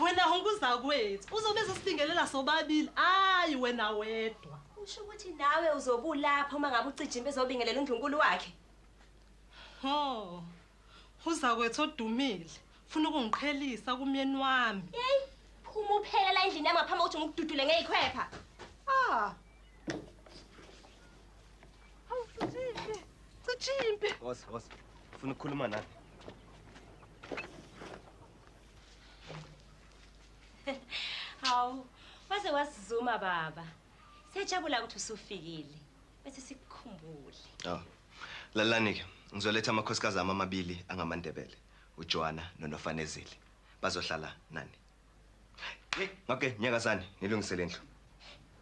Wena honke uzakwethu uzobe ezosibingelela sobabili hayi wena wedwa. Usho ukuthi nawe uzobulapha uma ngabe ucijimba ezobingelela undlunkulu wakhe. Ho. Uzakwethu odumile funa ukungiqhelisa kumyeni wami. Hey, phuma uphele la endlini yami ngaphambi kokuthi ngikududule ngeyikhwepha. Ah. Hawu cijimbe. Cijimbe. Woza, woza. Funa ukukhuluma nami. hawu waze wasizuma baba siyajabula ukuthi usufikile bese sikukhumbule oh. lalani-ke ngizoletha amakhosikazi ami amabili angamandebele ujoana nonofanezile bazohlala nani hey okay nyakazane nilungisele indlu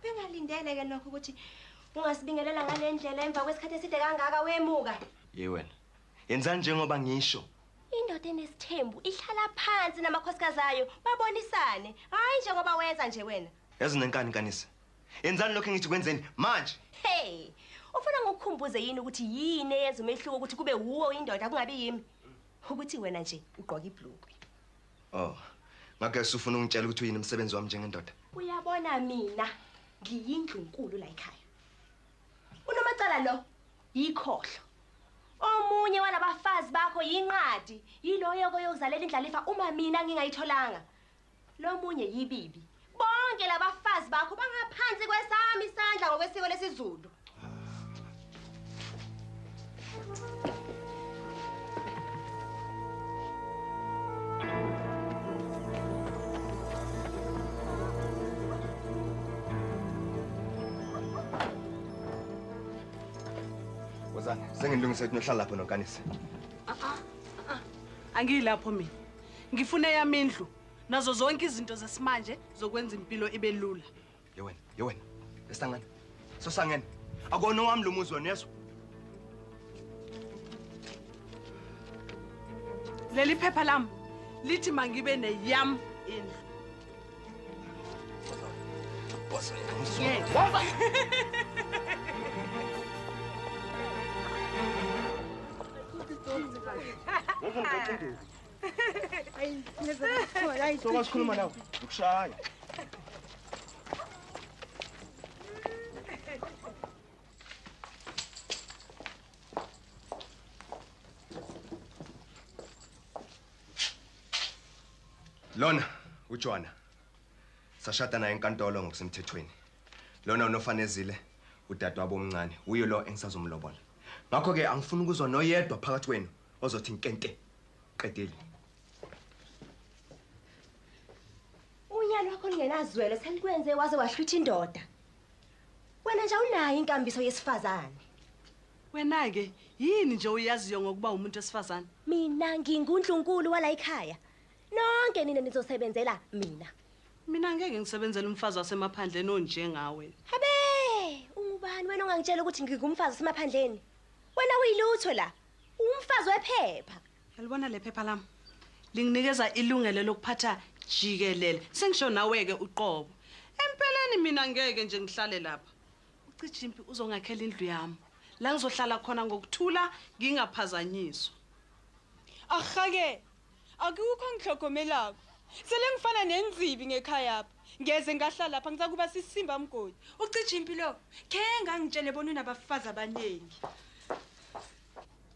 bengalindele ke lokho ukuthi ungasibingelela ngale ndlela emva kwesikhathi eside kangaka wemuka ye wena yenzani njengoba ngisho Indoda enesithembu ihlala phansi namakhosikazi ayo babonisane, hhayi njengoba wenza nje wena. Yazi unenkani nkanisi. Yenzani lokho engithi kwenzeni manje. Hey! Ufuna ngikukhumbuze yini ukuthi yini eyenza umehluko ukuthi kube wuwe uyindoda kungabi yimi? Ukuthi wena nje ugqoka ibhlukwe. Oh. Ngakho usufuna ungitshela ukuthi uyini umsebenzi wami njengendoda? Uyabona mina ngiyindlunkulu la ekhaya. Unomacala lo yikhohlo. Omunye walabafazi bakho yinqadi, yiloyo koyozalela indlalifa uma mina ngingayitholanga. Lomunye yibibi. Bonke labafazi bakho bangaphansi kwesami isandla ngokwesiko lesiZulu. Wozani, sengilungise ukuthi nohlala lapho nonkanise. angiyilapho mina ngifuna eyami indlu nazo zonke izinto zesimanje zokwenza impilo ibe lula Yewena, yewena. Esangene. Sosangene. Akona wami lo muzi wena yezwa. Leli phepha lami lithi mangibe neyam indlu. Boss, ngizwe. Waba. Ngeke ngicindezi. sokasikhuluma nawe ukushaya lona ujona sashada naye enkantolo ngokusemthethweni lona unofanezile udadewabo omncane uyo lo engisazomlobola ngakho-ke angifuni ukuzwa noyedwa phakathi kwenu ozothi nkente qedile unyalo wakho lingenazwelo selikwenze waze wahlwitha indoda wena nje unayo inkambiso yesifazane wena-ke yini nje uyaziyo ngokuba umuntu wesifazane mina nginguntlunkulu wala ikhaya nonke nina nizosebenzela mina mina ngeke ngisebenzele umfazi wasemaphandleni onjengawe habe ungubani wena ongangitshela ukuthi ngingumfazi wasemaphandleni wena uyilutho la Umfazi wephepha. Yalibona lephepha lami. Linginikeza ilungelo lokuphatha jikelele. Sengisho nawe ke uqobo. Empeleni mina ngeke nje ngihlale lapha. Ucijimpi uzongakhela indlu yami. La ngizohlala khona ngokuthula ngingaphazanyiswa. Ahake Akukho ongihlogomelako. Sele ngifana nenzibi ngekhayapha. Ngeze ngahlala lapha, ngizakuba sisimba mgodi. Ucija impi lo. Khenge angitshele bona unabafazi abaningi.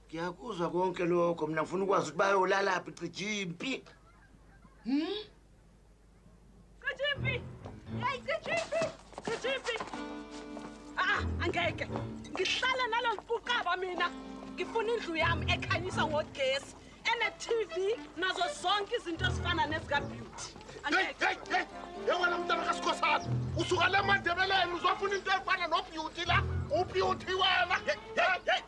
Ngiyakuzwa konke lokho, mina ngifuna ukwazi ukuthi bayolalaphi cija impi. Hmm? Cijimpi! Hey, Cijimpi! Cijimpi! Ah, angeke. Ngihlala nalo mfuqaba mina. Ngifuna indlu yami ekhanyisa ngogesi. Ene-TV nazo zonke izinto ezifana nezikabeauty. Angeke. Hey, hey, yewena mntana kasikhosana. Usuka le mandebeleni uzofuna into efana nobeauty la. Ubeauty wena. Hey, hey, hey.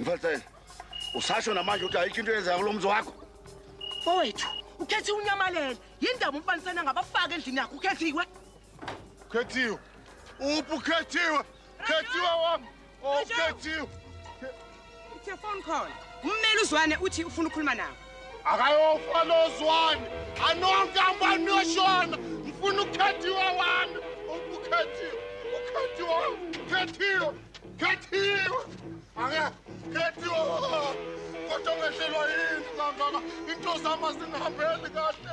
Mfalsele, usasho namanje ukuthi ayikho into eyenzayo kulo mzi wakho. Mfowethu, ukhethiwe unyamalele. Yindaba umfanisana ngabafaka endlini yakho ukhethiwe. Ukhethiwe. Uphi ukhethiwe? Ukhethiwe wami. It's a phone call. Ummeli uzwane uthi ufuna ukukhuluma nawe. Akayofa lo zwane. Anonke abantu yoshona. Ngifuna ukhethiwe wami. Ukhethiwe. Ukhethiwe. Ukhethiwe. Ukhethiwe. Ake khethiwe. Kodwa ngehlelwa yini mama? Into zama zingihambeli kahle.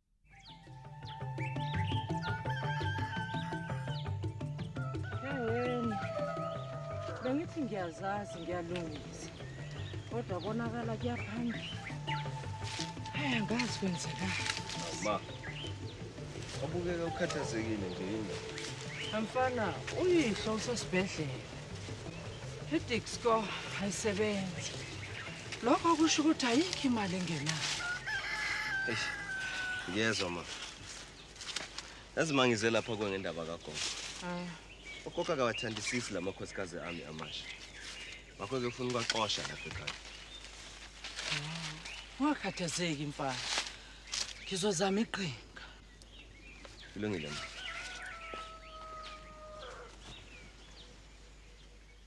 bengithi ngiyazazi ngiyalungisa kodwa konakala kuyaphambili hayi angazi kwenzekani ma obukeka ukhathazekile nje yini amfana uyihlo usesibhedlela idixco ayisebenzi Lokho kusho ukuthi ayikho imali engenayo. Eish. Ngiyezwa ma. Yazi mangize lapha kwe ngendaba kagogo. Hayi. Ugogo akawathandisisi lamakhosikazi ami amasha. Ngakho ke ufuna ukwaqosha lapha ekhaya. Ungakhathazeki mfana. Ngizozama iqhinga. Kulungile ma.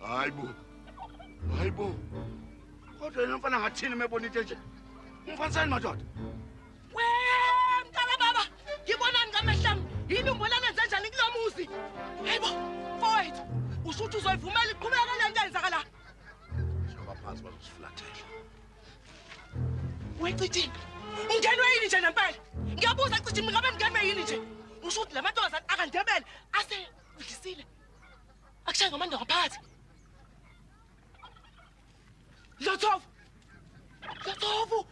hayi bo hayi bo kodwa yena mfana ngathini mebona into enje umfanisani madoda we mntana baba ngibonani ngamehlami yini umbonana enze njani kulo muzi hayi bo mfowethu usho ukuthi uzoyivumela iqhubeka le nto yenzakala phansi bazosifulathela Wecithini. Ungenwe yini nje nempela? Ngiyabuza cithini ngabe ngenwe yini nje? Usho ukuthi lamantombazane akandebele ase udlisile. Akushaye ngomando ngaphathi. Lothovu. Lothovu.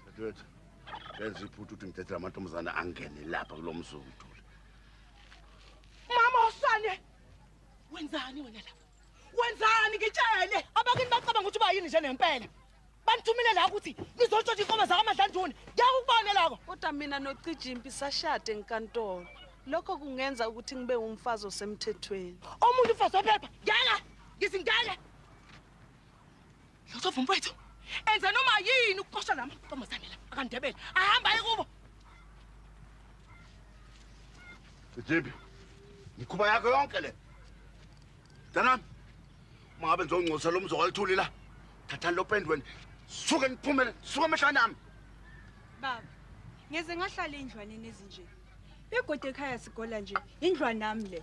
Dadewethu. Benza iphuthu ukuthi ngithethe lamantombazane angene lapha kulomzulu. Mama usane. Wenzani wena lapha? wenzani ngitshele abakini bacabanga ukuthi ubayini nje nempela banithumile la ukuthi nizotshontsha inkomo zakamadlanduni ngiyakukubona loko kodwa mina nocijimpi sashade enkantolo lokho kungenza ukuthi ngibe umfazi osemthethweni omunye umfazi ophepha ngeke ngizingeke Lutho vumfowethu. Enza noma yini ukuqosha lama ntombazane la akandebele. Ahamba aye kubo. Jibi. Ngikhuba yakho yonke le. Danami. Uma ngabe ngizongcosa lo mzwa walithuli la. Thatha lo pendweni. Suke niphumele, suke emehlweni ami. Baba, ngeze ngahlala endlwaneni ezinje. Begode ekhaya sigola nje, indlwa nami le.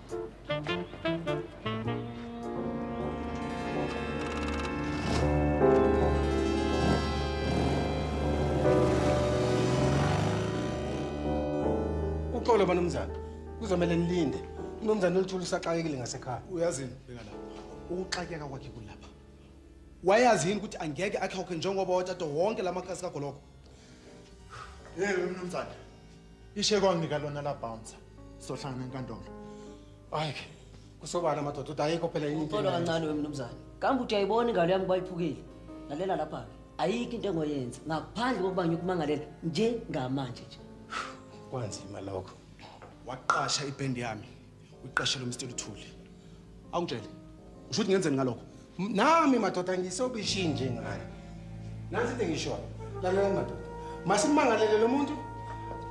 uxolo banumzana kuzomele nilinde umnumzana oluthula usaxakekile ngasekhaya uyazini beka lapha ukuxakeka kwakhe kulapha wayazi yini ukuthi angeke akhokhe njengoba watata wonke la makhasi kagoloko Hey mnumzane. Ishe kwanginika lona la bouncer. Sohlangana enkantolo. Hayi ke kusobala amadoda uthi ayikho phela yini. Ucela kancane wemnumzane. Kambe uthi ayibona ingalo yami bayiphukile. Lalela lapha ke. Ayikho into engoyenza ngaphandle kokuba ngikumangalela njengamanje nje. Kwanzima lokho. Waqasha ibhendi yami. uyiqashele umsithe luthuli awungitshele usho ukuthi ngenzeni ngalokho nami madoda ngisobishini njengani nansi into engishoyo lalela madoda masimangalele lo muntu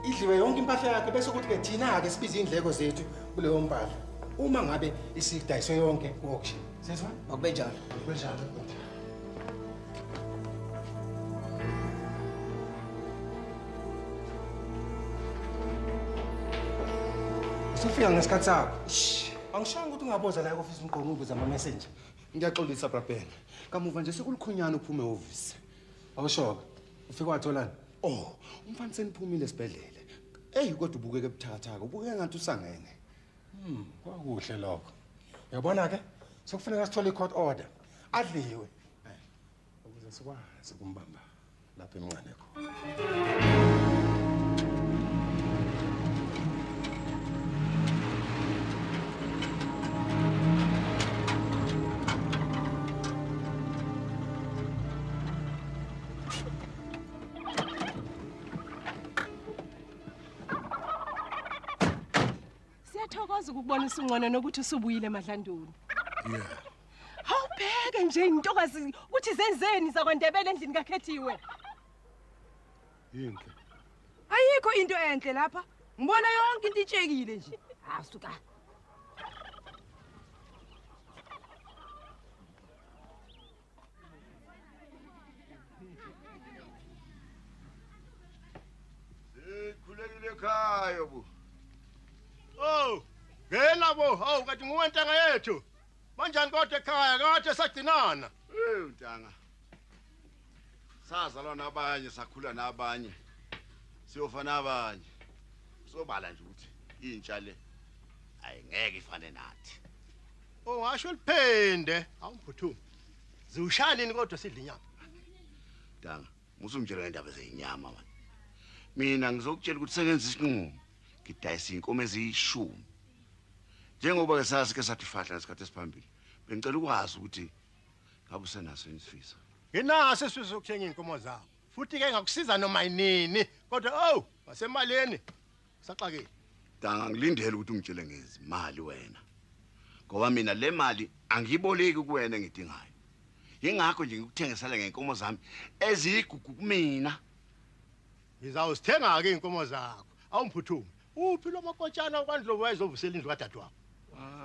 idliwe yonke impahla yakhe bese kuthi-ke thina-ke sibize iy'ndleko zethu kuleyo mpahla uma ngabe isidayiswe yonke ku-auction Sezwa? Akube njalo. Akube njalo. Usufika ngesikhathi sakho. Angishanga ukuthi ungaboza la e-office umgqomo ubuza ama-messenger. Ngiyaxolisa brabhena. Kamuva nje sekulikhunyana uphume ehhovisi. Awushoka. Ufike watholani? Oh, umfana seniphumile esibhedlela. Eyi kodwa ubukeke buthakathaka. Ubukeke ngathi usangene. Hmm, kwakuhle lokho. Yabona ke, sekufuneka sithole i-court order. Adliwe. Eh, ukuze sikwazi ukumbamba lapha emncane khona. Siyathokoza ukubona usungcono nokuthi usubuyile Madlandulu. Yeah. Hawubheke nje intokazi ukuthi zenzeni zakwandebele endlini kakhethiwe. Yinhle. Ayikho into enhle lapha. Ngibona yonke into itshekile nje. Asuka. Ah, sikhulekile ekhaya bo oh ngena bo hawu kati nguwe ntanga yethu banjani kodwa ekhaya kade sagcinana eyi ntanga sazalwa nabanye sakhula nabanye siyofa nabanye sobala nje ukuthi intsha le ayingeke ifane nathi Oh washo liphende. Hawu mphuthu. Ziwushaya nini kodwa sidla inyama? Danga, musumtshela ngendaba zezinyama wena. Mina ngizokutshela ukuthi sengenza isinqumo. Ngidayisa inkomo eziyishumi. Njengoba ke sasike sathi fahla ngesikhathi esiphambili. Bengicela ukwazi ukuthi ngabe usenaso isifiso. Nginaso isifiso sokuthenga inkomo zabo. Futhi ke ngakusiza noma yinini. Kodwa oh, wasemaleni. Saxakile. Danga ngilindele ukuthi ungitshele ngezimali wena. Ngoba mina le mali angiyiboleki kuwena engidingayo. Yingakho nje ngikuthengisela ngenkomo zami eziyigugu kumina. Ngizawuzithenga-ke iy'nkomo zakho. Awumphuthume. Uphi lo makotshana okwandlovu wayezovusela indlu kadadewabo? Ah.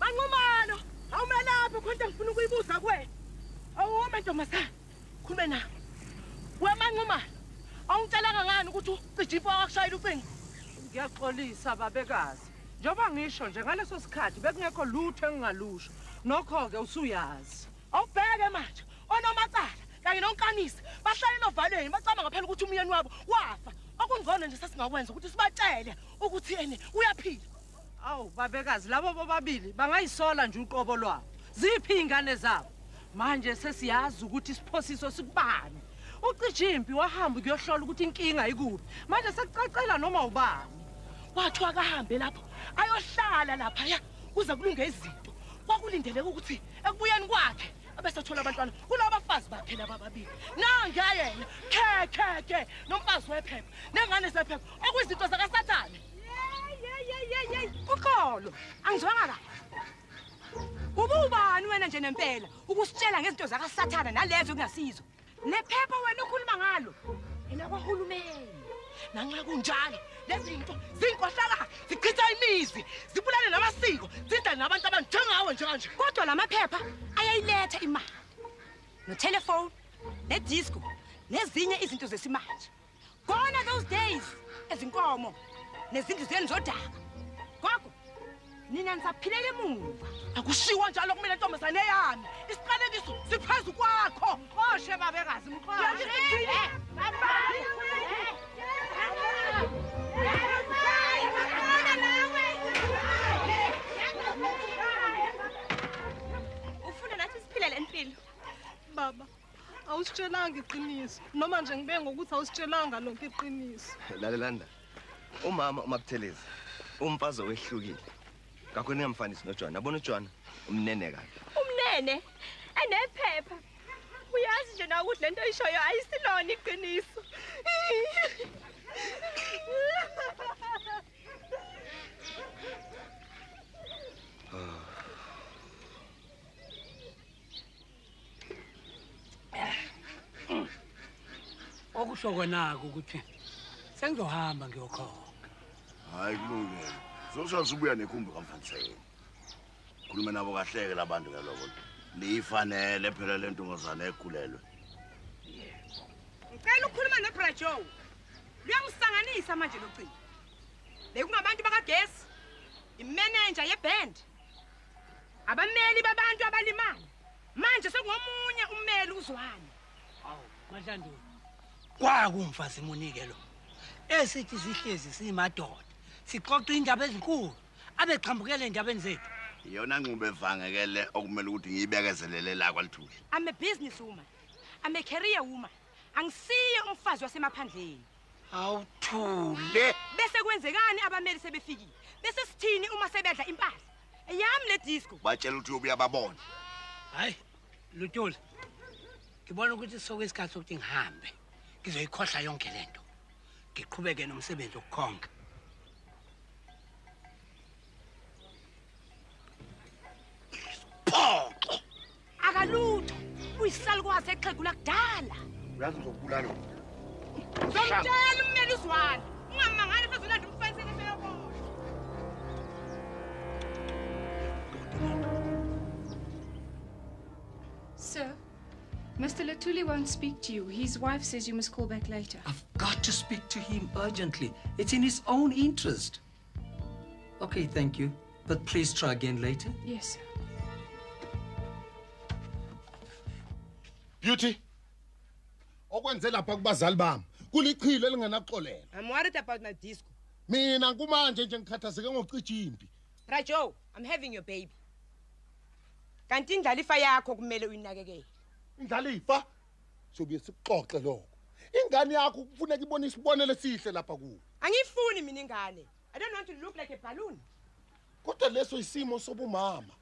Manqumalo, awumelaphi khona into engifuna ukuyibuza kuwena. Awume ntombazane, khulume nami. We Manqumalo, awungitshelanga ngani ukuthi ucija imfo wakushayela ucingo? Ngiyaxolisa babekazi. Njengoba ngisho nje ngaleso sikhathi bekungekho lutho engingalusho. Nokho-ke usuyazi. Awubheke manje, onomacala kanye nonkanisa bahlalele ovalweni bacabanga phela ukuthi umyeni wabo wafa. Okungcono nje sasingakwenza ukuthi sibatshele ukuthi ene uyaphila. awu babekazi labo bobabili bangayisola nje uqobo lwabo ziphi iy'ngane zabo manje sesiyazi ukuthi isiphosiso sikubani ucija impi wahamba ukuyohlola ukuthi inkinga ikuphi manje sekucacela noma ubani kwathiwa akahambe lapho ayohlala laphaya kuze kulunge izinto kwakulindeleka ukuthi ekubuyeni kwakhe abesathola abantwana kulaba bafazi bakhe laba babili nangayena khe khe khe nomfazi wephepha nengane zephepha okuyizinto zakasathane uxolo angizwanga kahle ububani wena nje nempela ukusitshela ngezinto zakasathana nalezo kungasizo nephepha wena okhuluma ngalo elakwahulumeni nanxa kunjalo lezi zinto zinkohlakala zichitha imizi zibulale namasiko zidla nabantu abanjengawe njenganje kodwa la maphepha ayayiletha imali notelefoni nedisco nezinye izinto zesimanje Gone are those days ezinkomo nezindlu zenu zodaka. Gogo nina nisaphilela emuva. Akushiwo njalo kumina ntombazane yami. Isiqalekiso siphezu kwakho. Oshe babekazi mkhona. Ufuna nathi siphilele impilo. Baba awusitshelanga iqiniso noma nje ngibe ngokuthi awusitshelanga lonke iqiniso lalelanda umama umabuthelezi umfazi owehlukile ngakho ningamfanisi nojwana abona ujwana umnene kabi umnene enephepha uyazi nje na ukuthi le nto oyishoyo ayisilona iqiniso okusho konako ukuthi sengizohamba ngiyokhona hayi kulungile zoshaya usubuya nekhumbi kamfaniseni khuluma nabo kahleke labantu ngaloko liyifanele phela le ntombazane ekhulelwe ngicela ukhuluma nebrajo luyangisanganisa manje locingo bekungabantu bakagesi imenenja yeband Abameli babantu abalimala. Manje sekungomunye ummeli uzwane. Awu, Madlandulu. Kwaku mfazi munike lo. Esithi sihlezi simadoda. Sixoxa indaba ezinkulu. Abeqhambukele endabeni zethu. Iyona nxubo evange ke le okumele ukuthi ngiyibekezelele la kwalithuli. I'm a business woman. I'm a career woman. Angisiye umfazi wasemaphandleni. awuthule bese kwenzekani abameli sebefikile bese sithini uma sebedla impahla eyami le disco batshela ukuthi uyobuya babone hayi lutula ngibona ukuthi soke isikhathi sokuthi ngihambe ngizoyikhohla yonke le nto ngiqhubeke nomsebenzi wokukhonga Phoxo. Akalutho. Uyisalukwazi exhegu lakudala. Uyazi ngizokubulala. Ngizomtshela ummeli uzwana. Ungamangani futhi ulanda umfana Sir, Mr. Latuli won't speak to you. His wife says you must call back later. I've got to speak to him urgently. It's in his own interest. Okay, thank you. But please try again later. Yes, sir. Beauty. Okwenze lapha kubazali bami. Kulichilo elingenaxolela. I'm worried about my disco. Mina kumanje nje ngikhathazeke ngokucija impi. Rajo, I'm having your baby. Kanti indlalifa yakho kumele uyinakekele. Indlalifa? sobuye sikuxoxe lokho ingane yakho kufuneka ibone isibonelo esihle lapha kuwe angiyifuni mina ingane i don't want to look like a balloon kodwa leso isimo sobumama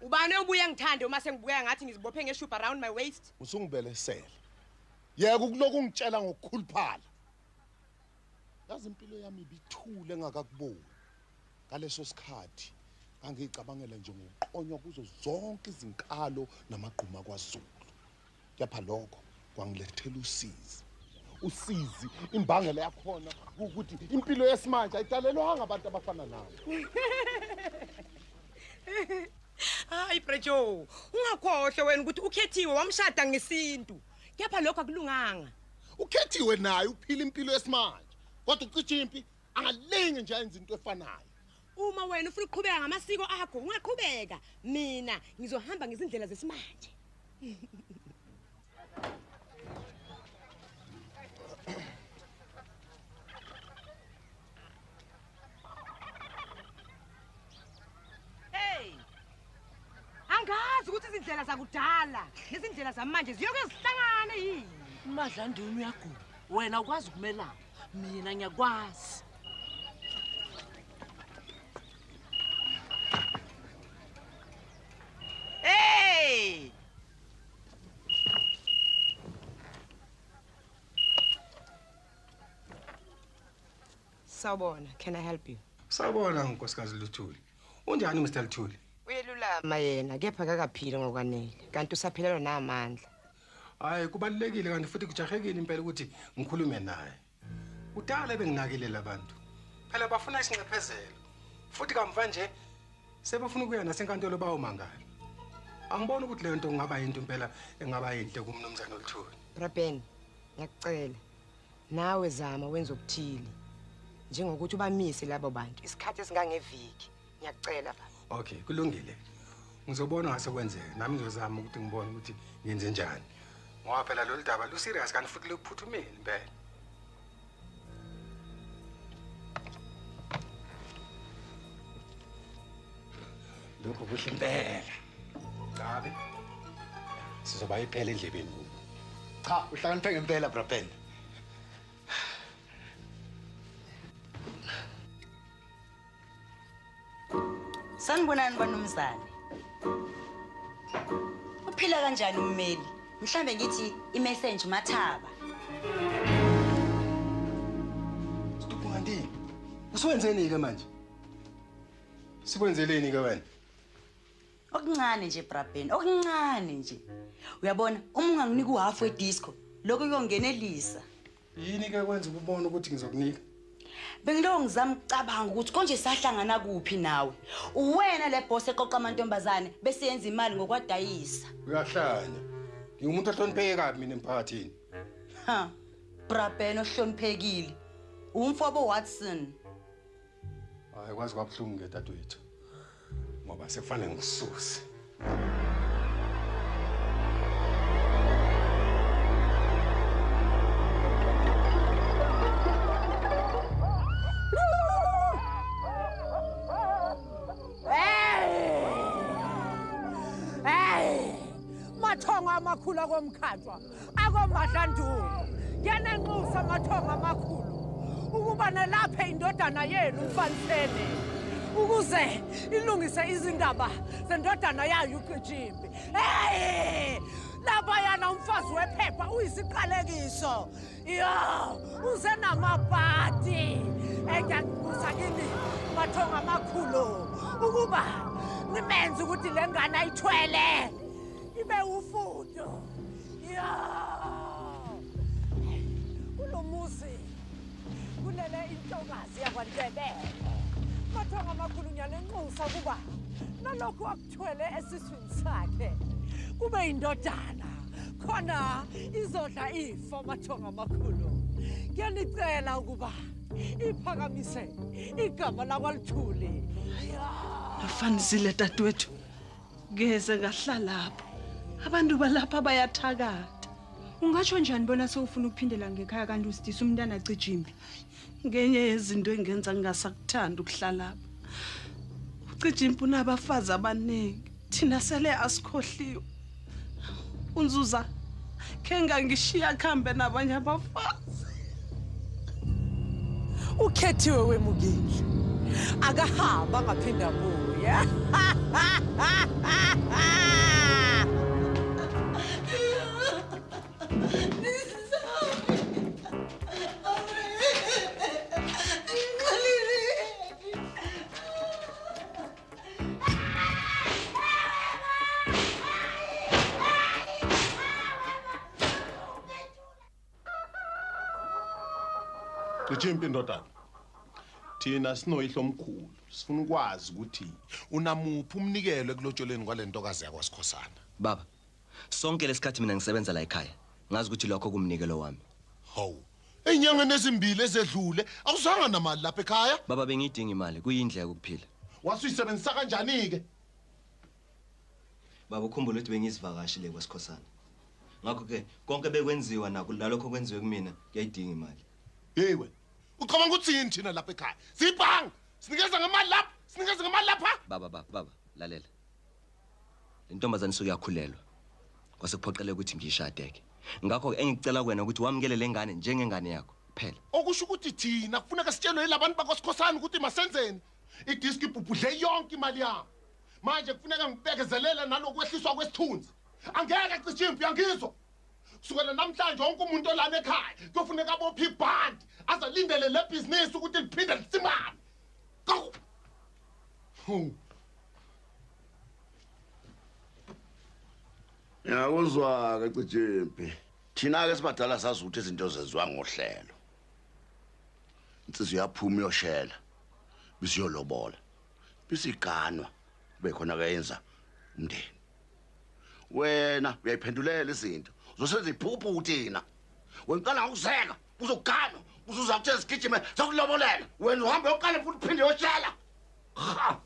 ubani obuye ngithande uma sengibukeka ngathi ngizibophe ngeshubha around my waist usungibelesele yeka ukulokhu ungitshela ngokukhuluphala Yazi impilo yami ibithule engakakuboni. Ngaleso sikhathi ngangicabangela nje ngokuqonywa kuzo zonke izinkalo namagquma kwaZulu. Kepha lokho kwangilethela usizi. Usizi imbangela yakhona ukuthi impilo yesimanje ayidalelwanga abantu abafana nawe. Hayi Brejo, ungakhohle wena ukuthi ukhethiwe wamshada ngesintu. kepha lokho akulunganga ukhethiwe naye uphila impilo yesimanje kodwa ucija impi angalingi nje ayenza into efanayo uma wena ufuna ukuqhubeka ngamasiko akho ungaqhubeka mina ngizohamba ngezindlela zesimanje angazi ukuthi izindlela zakudala nezindlela zamanje ziyoke zihlangane yini umadlandini uyagula wena ukwazi ukumelana mina ngiyakwazi Hey! Sawubona, can I help you? Sawubona nkosikazi Luthuli. Unjani Mr Luthuli? Uyelulama yena kepha kakaphili ngokwanele kanti usaphelelwa namandla. Hayi kubalekile kanti futhi kujahekile impela ukuthi ngikhulume naye. Kudala benginakile labantu. Phela bafuna isinxephezelo. Futhi kamva nje sebefuna ukuya nasenkantolo bawo mangala. Angiboni ukuthi le nto kungaba yinto impela engaba yinhle kumnumzane Luthuli. Brabeni, ngiyakucela. Nawe zama wenza okuthile. Njengokuthi ubamise labo bantu isikhathi esingangeviki. Ngiyakucela baba. Okay, kulungile. Ngizobona ngase kwenzeka. Nami ngizozama ukuthi ngibone ukuthi ngenze njani. Ngoba phela lolu daba lu serious kanti futhi lukuphuthumile impela. lokho kuhle impela cabe sizoba iphela endlebeni kubo cha uhlakaniphe ngempela braben sanibonani banumzane uphila kanjani ummeli mhlambe ngithi imessage mathaba Stupungandini. Usuwenzeni ke manje? sikwenzeleni ke wena okuncane nje brabhen okuncane nje uyabona uma unganginika uhalf wedisco lokho kuyongenelisa yini ke kwenza ukubona ukuthi ngizokunika bengilowo ngizama ukucabanga ukuthi konje sahlangana kuphi nawe uwena le boss eqoqa amantombazane bese yenza imali ngokwadayisa uyahlanya ngingumuntu ohlonipheke kabi mina emphakathini ha brabhen ohloniphekile umfobo watson Hayi kwazi kwabuhlungu ke dadwethu. Ngoba sekufanele ngisuse. amakhulu akomkhatshwa akomadlandulu yanenxusa amathongo amakhulu ukuba nalaphe indodana yenu umfanisene ukuze ilungise izindaba zendodana yayo uqijimbi hey labayana umfazi wephepha uyisiqalekiso yo uze namabhadi engiyakubuza kini mathonga amakhulu ukuba nimenze ukuthi le ngane ayithwele Ibe ufudo. Ya! Kulomuzi kulele intokazi yakwaNdebele. Mathonga amakhulu ngiyanenxusa kuba nalokhu akuthwele esiswini sakhe kube indodana khona izodla ifo mathonga amakhulu. Ngiyanicela ukuba iphakamise igama lakwaLithuli. Afanisile dadewethu. Ngeze ngahlalapho. Abantu balapha bayathakatha. Ungasho njani bona sewufuna ukuphindela ngekhaya kanti usidisa umntana cijimbi? Ngenye yezinto engenza ngingasakuthanda ukuhlalapha. Ucijimbi unabafazi abaningi. Thina sele asikhohliwe. Unzuza kengangishiya kuhambe nabanye abafazi. Ukhethiwe wemukile. Akahamba ngaphinda buya. Cicimpi ndodana. Thina sinoyihlo omkhulu. Sifuna ukwazi ukuthi unamuphi umnikelo ekulotsholeni kwalentokazi yakwaSikhosana. Baba, Sonke lesikhathi mina ngisebenza la ekhaya. Ngazi ukuthi lokho kumnikelo wami. Hawu. Enyangeni ezimbili ezedlule awuzanga namali lapha ekhaya. Baba bengidinga imali, kuyindlela yokuphila. Wasuyisebenzisa kanjani ke? Baba ukhumbula ukuthi bengizivakashi le kwesikhosana. Ngakho ke konke bekwenziwa naku lalokho kwenziwe kumina kuyayidinga imali. Hey wena. Ucabanga ukuthi yini thina lapha ekhaya? Sibhanga. Sinikeza ngemali lapha, sinikeza ngemali lapha. Baba baba baba lalela. Intombazane suke yakhulelwa. Kwase kuphoqeleka ukuthi ngiyishade ke. Ngakho ke engicela kuwena ukuthi wamukele lengane njengengane yakho. Phela. Okusho ukuthi thina kufuneka sitshelwe ilabantu bakosikhosana ukuthi masenzeni. Idisk ibhubhudle yonke imali yami. Manje kufuneka ngibekezelele nalokwehliswa kwesithunzi. Angeke cishe impi yangizwa. Kusukela namhlanje wonke umuntu olana ekhaya kuyofuneka abophe ibhandi azalindele le business ukuthi liphinde lisimame. Go! Huh. Ngiyakuzwa-ke Cijimpi. Thina-ke sibadala sazi ukuthi izinto zenziwa ngohlelo. Insizwa iyaphuma iyoshela bisiyolobola bisiganwa kube khona kayenza umndeni. Wena uyayiphendulela izinto. Uzosenza iphuphu uthina. Wena uqala ngokuzeka. uzoganwa uzuza kuthe zigijime zokulobolela wena uhambe yokuqala futhi uphinde yoshela ha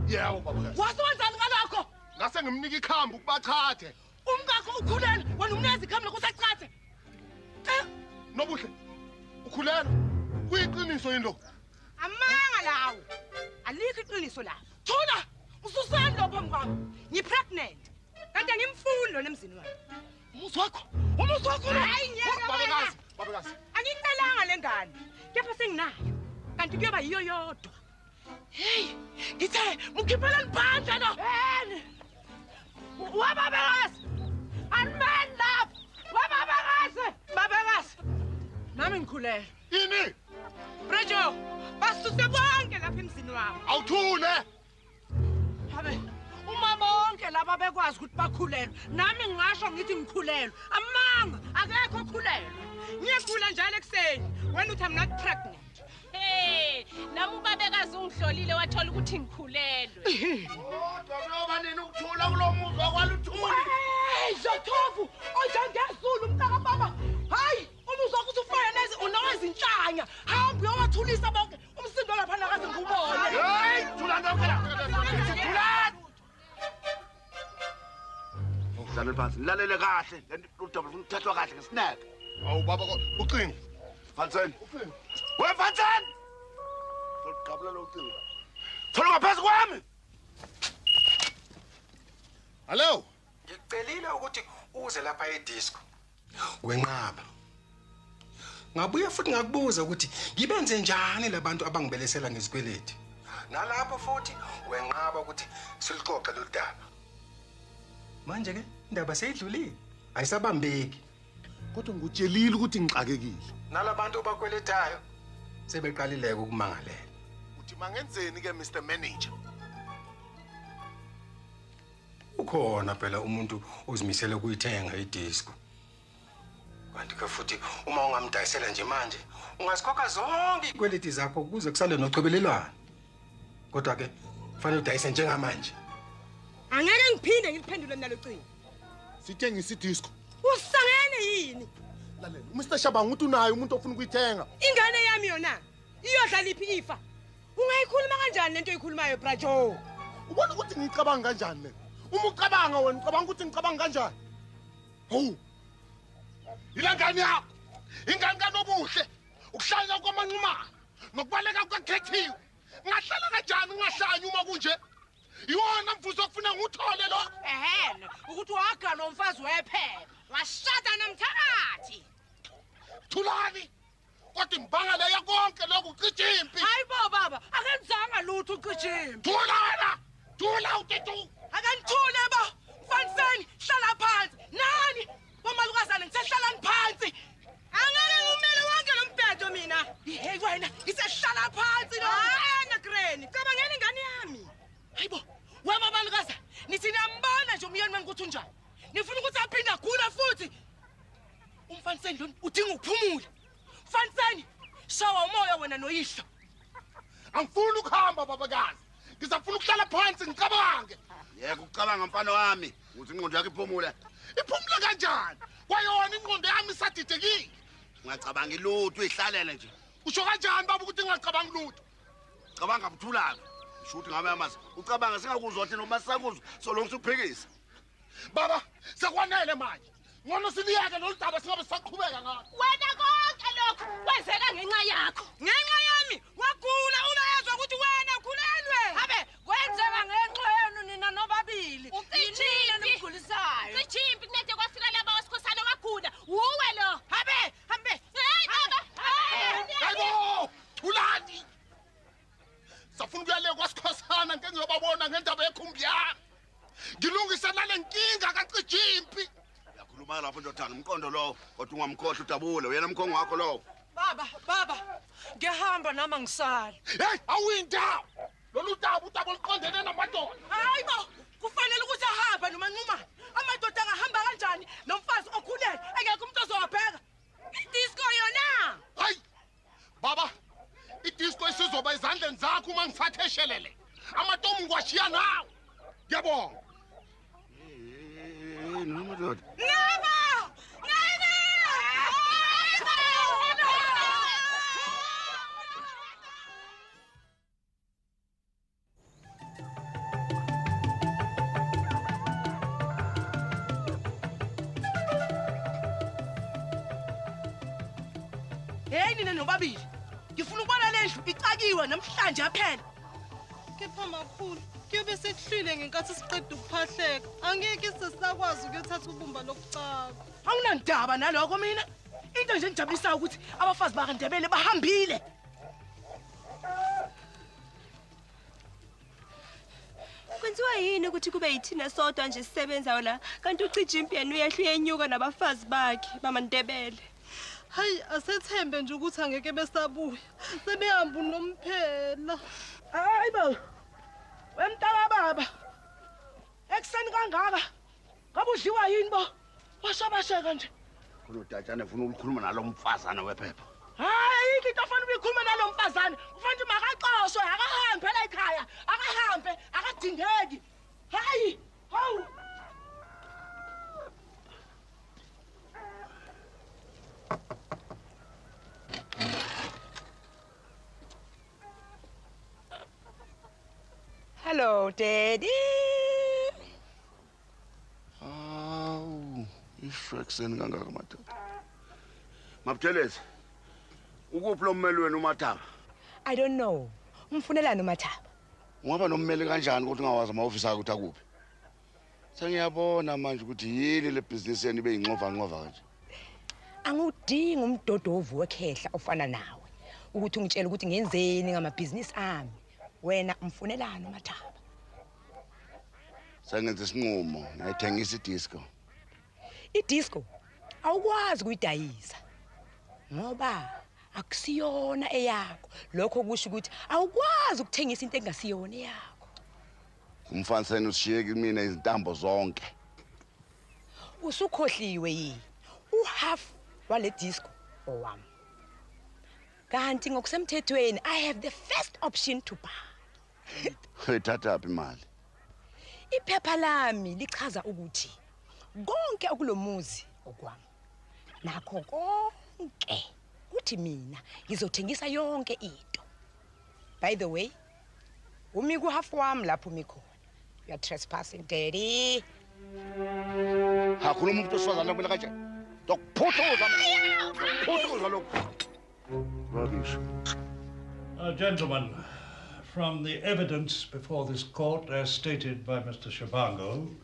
Yeah, ubaba. Waso wenzani ngalokho? Ngase ngimnika ikhambu kubachathe. Umkakho ukhulelwe wena umnezi ikhamela kusachathe. Eh? Nobuhle. Ukhulelwe. Kuyiqiniso yini lokho? Amanga lawo. Alikho iqiniso lapho. Thula. Ususani lo phambi kwami. Ngi pregnant. Kanti angimfuni lona emzini wami. Umuzi wakho. Umuzi wakho. Hayi ngeke. Babekazi. Babekazi. Angicelanga lengane. Kepha senginayo. Kanti kuyoba yiyo yodwa. Hey, ngithe mukhiphela liphandla no. Hey. Waba bekazi. Anman love. Waba bekazi. Babekazi. Nami ngikhulele. Yini? Brejo, basuse bonke lapha emzini wami. Awuthule. Habe. Uma bonke laba bekwazi ukuthi bakhulelwe, nami ngingasho ngithi ngikhulelwe. Amanga, akekho okhulelwe. Ngiyakhula njalo ekuseni. Wena uthi I'm not pregnant. Hey, nami ubabekazi ungihlolile wathola ukuthi ngikhulelwe. Kodwa kuyoba nini ukuthula kulomuzwa kwaluthuli? Hey, Jothovu, onjengezulu mntaka baba. Hayi, umuzwa ukuthi ufana nezi unowezinhlanya. Hamba uyowathulisa bonke. Umsindo lapha nakaze ngubone. Hey, thula ndoke la. Thula. Ngizalwe phansi. Nilalele kahle. Lento udaba ufuna ukuthathwa kahle ngesineke. Awu baba ucingo. Fansen. Ucingo. We Fansen. Ngigqabula lo ucingo. Thola ngaphezu kwami. Hello. Ngicelile ukuthi uze lapha edisco. wenqaba ngabuye futhi ngakubuza ukuthi ngibenze njani labantu abangibelesela ngezikweleti nalapho futhi wenqaba ukuthi silixoxe lolu daba manje ke indaba seyidlulile ayisabambeki kodwa ngikutshelile ukuthi ngixakekile nalabantu obakweletayo sebeqalileke ukumangalela uthi mangenzeni ke Mr Manager ukhona phela umuntu ozimisele ukuyithenga idisco kanti ke futhi uma ungamdayisela nje manje ungazikhokha zonke iy'kweleti zakho kuze kusale nochobelelwana kodwa ke kufanele udayise njengamanje angeke ngiphinde ngiliphendule mina locingo sithengisa idisco usangene yini lalela umr shabanga ukuthi unayo umuntu ofuna ukuyithenga ingane yami yona iyodla liphi ifa Ungayikhuluma kanjani lento oyikhulumayo bra Joe? Ubona ukuthi ngicabanga kanjani mina? Uma ucabanga wena ucabanga ukuthi ngicabanga kanjani? Hawu. Yile ngane yakho. Ingane kanobuhle. Ukuhlanya kwamanqumana nokubaleka kukakhethiwe. Ngahlala kanjani ungahlanya uma kunje? Iwona mvuzo ofuna nguthole lo. Ehena, ukuthi wagana umfazi wephepha. Washada nomthakathi. Thulani. kodwa imbangela yakonke lokhu ucija impi hayi bo baba akenzanga lutho ucija impi thula wena thula utetu akanithule bo mfaniseni hlala phansi nani bomalukazane ngisehlalani phansi angeke ngumele wonke lo mbhedo mina hey wena ngisehlala phansi lo wena greni cabangela ingane yami hayi bo wema balukazane nithi niyambona nje umyeni wenu ukuthi unjani nifuna ukuthi aphinde agule futhi Umfaniseni lona udinga ukuphumula. Mfaniseni, shawa umoya wena noyihlo. Angifuni ukuhamba babakazi. Ngisafuna ukuhlala phansi ngicabange. Yeka ucabanga mfana wami ukuthi ingqondo yakho iphumule. Iphumule kanjani? Kwayona ingqondo yami isadidekile. Ngacabanga ilutho ihlalele nje. Usho kanjani baba ukuthi ngingacabanga lutho? Cabanga buthulaka. Shuthi ngabe amazi. Ucabanga singakuzwa thina uma sakuzwa solonke uphikisa. Baba, sekwanele manje. Ngono siliyeke lolu daba singabe sisaqhubeka ngalo. Wena konke lokho kwenzeka ngenxa yakho. Ngenxa yami wagula uma ezwa ukuthi wena ukhulelwe. Habe kwenzeka ngenxa yenu nina nobabili. Ucishile nimgulisayo. Sijimpi kunede kwafika laba wesikhosana wagula. Wuwe lo. Habe hambe. Hey baba. Hayibo! Thulani. safuna ukuyale kwasikhosana ngeke ngiyobabona ngendaba yekhumbi yami ngilungise nale nkinga kacijile impi uyakhuluma lapho ndodana umqondo lowo kodwa ungamkhohlwa udabule uyena mkhongo wakho lowo baba baba ngiyahamba nami angisali heyi awuyindawo lolu daba udaba oluqondene namadoda hayi bo kufanele ukuthi ahambe nomanqumane amadoda angahamba kanjani nomfazi okhulele engekho umuntu ozowabheka idisko yona hayi baba idisco isizoba ezandleni zakho uma ngithathe eshelele amatomu ngiwashiya nawe ngiyabonga noma doda noma heyi nina nobabili ngifuna ukubona le ndlu icakiwe namhlanje aphela kepha makhulu kuyobe sekuhlwile ngenkathi siqeda ukuphahleka angeke sesisakwazi ukuyothatha ubumba lokucaka awunandaba naloko mina into nje engijabulisayo ukuthi abafazi bakandebele bahambile kwenziwa yini ukuthi kube yithina sodwa nje sisebenzayo la kanti ucija impyeni uyehla uyenyuka nabafazi bakhe bamantebele hayi asethembe nje ukuthi angeke besabuya sebehamba unomphela hayi bo wemntaka baba ekuseni kangaka Ngabe udliwa yini bo? Wasabaseka nje. Khona udatshane ufuna ukukhuluma nalomfazana wephepha. Hayi ayikho into afanele uyikhulume nalomfazana. Kufanele makaxoshwe akahambe phela ekhaya. Akahambe akadingeki. Hayi. Hawu. Hello, Daddy. Awu, isho ekuseni kangaka madoda. Mabuthelezi. Ukuphi lo mmeli wenu uMathaba? I don't know. Umfunelani uMathaba? Ungaba nommeli kanjani ukuthi ungawazi amahofisi akhe ukuthi akuphi? Sengiyabona manje ukuthi yini le business yenu ibe yinxova nxova kanje. Angudingi umdodovu wekhehla ofana nawe ukuthi ungitshele ukuthi ngenzeni ngamabhizinisi ami. Wena umfunelani uMathaba? Sengenza isinqumo, ngiyayithengisa idisco. Idisco awukwazi kuyidayisa ngoba akusiyona eyakho. Lokho kusho ukuthi awukwazi ukuthengisa into engasiyona eyakho. Umfaniseni ushiye kimina izintambo zonke. Usukhohliwe yi u half wale disco owami. Kanti ngokusemthethweni I have the first option to buy. Uyithatha phi imali? Iphepha lami lichaza ukuthi konke okulomuzi okwami. Nakho konke kuthi mina ngizothengisa yonke into. By the way, Umi kuhafu wami lapho umi khona. You are trespassing, daddy. Hakhuluma umuntu osifazane kumele kanjani? Dokuphuthuzwa. Dokuphuthuzwa lokho. Rubbish. Uh, gentlemen, from the evidence before this court as stated by Mr. Shabango,